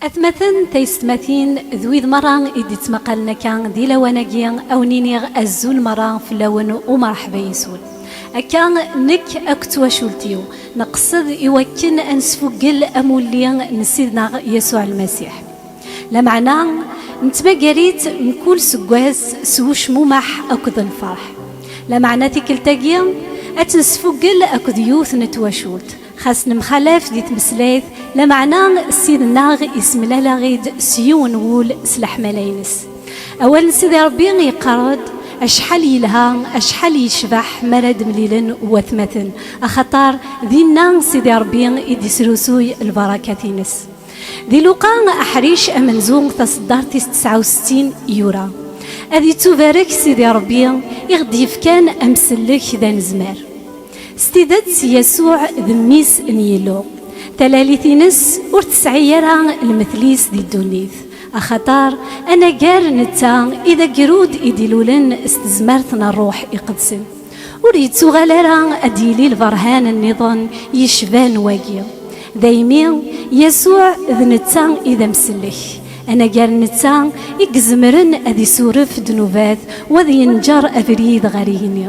Atmaten, taysetmatin, d wid merra i d-ittmaqalen akka di lawan-agi, a wen-iniɣ azul merra fell-awen, umerḥba yes-wen. Akka, nekk akk d twacult-iw, nqesed i wakken a nesfuggel amulli n Ssid-neɣ Yasuɛ Lmasiḥ. Lameɛna, nettmagar-itt mkul seggas s ucmumeḥ akked lferḥ. Lameɛna tikkelt-agi, a tt-nesfuggel akked yiwet n twacult, xas nemxalaf di tmeslayt, lameɛna Ssid-nneɣ yessemlal-aɣ-id s yiwen n wul s leḥmala-ines. Awal n Sidi Ṛebbi yeqqar-d, Acḥal yelha, acḥal yecbeḥ mi ara d-mlilen watmaten, axaṭer dinna Sidi Ṛebbi i d-yesrusuy lbarakat-ines. Di Luqa, aḥric amenzu taṣeddart-is tesɛa u settin, yura, Ad ittubarek Sidi Ṛebbi i ɣ-d-yefkan amsellek d anezmar. S tidet, Yasuɛ d Mmi-s n Yillu. Talalit-ines ur tesɛi ara lmetl-is di ddunit, axaṭer anagar netta i d agrud i d-ilulen s tezmert n Ṛṛuḥ Iqedsen. Ur yettuɣal ara ad d-yili lberhan nniḍen yecban wagi. Daymi, Yasuɛ d netta i d amsellek. Anagar netta i izemren ad isuref ddnubat u ad yenǧer abrid ɣer yigenni.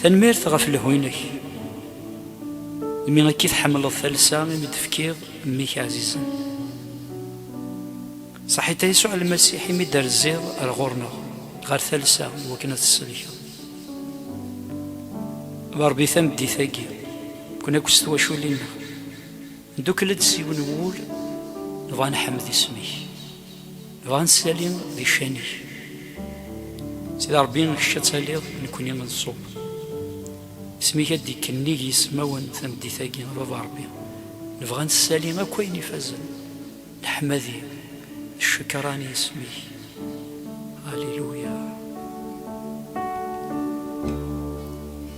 Tanemmirt ɣef lehwi-inek, imi akka i tḥemmleḍ talsa imi d-tefkiḍ mmi-k ɛzizen. Saḥit a Yasuɛ Lmasiḥ imi d-terziḍ ar ɣur-neɣ, ɣer talsa, i wakken ad t-tsellkeḍ. D Ṛebbi tameddit-agi, ken akk s twaculin-nneɣ. Ndukkel-d s yiwen wul, nebɣa ad nḥemmed isem-ik, nebɣa ad neslali di ccan-ik. Sidi Rebbi, kečč ad taliḍ, nekkni ad nṣub. Isem-ik ad d-ikennig yismawen tameddit-agi, a Baba Rebbi. Nebɣa ad nessali akk ayen ifazen, leḥmadi, d ccekran i yisem-ik. Alléluia.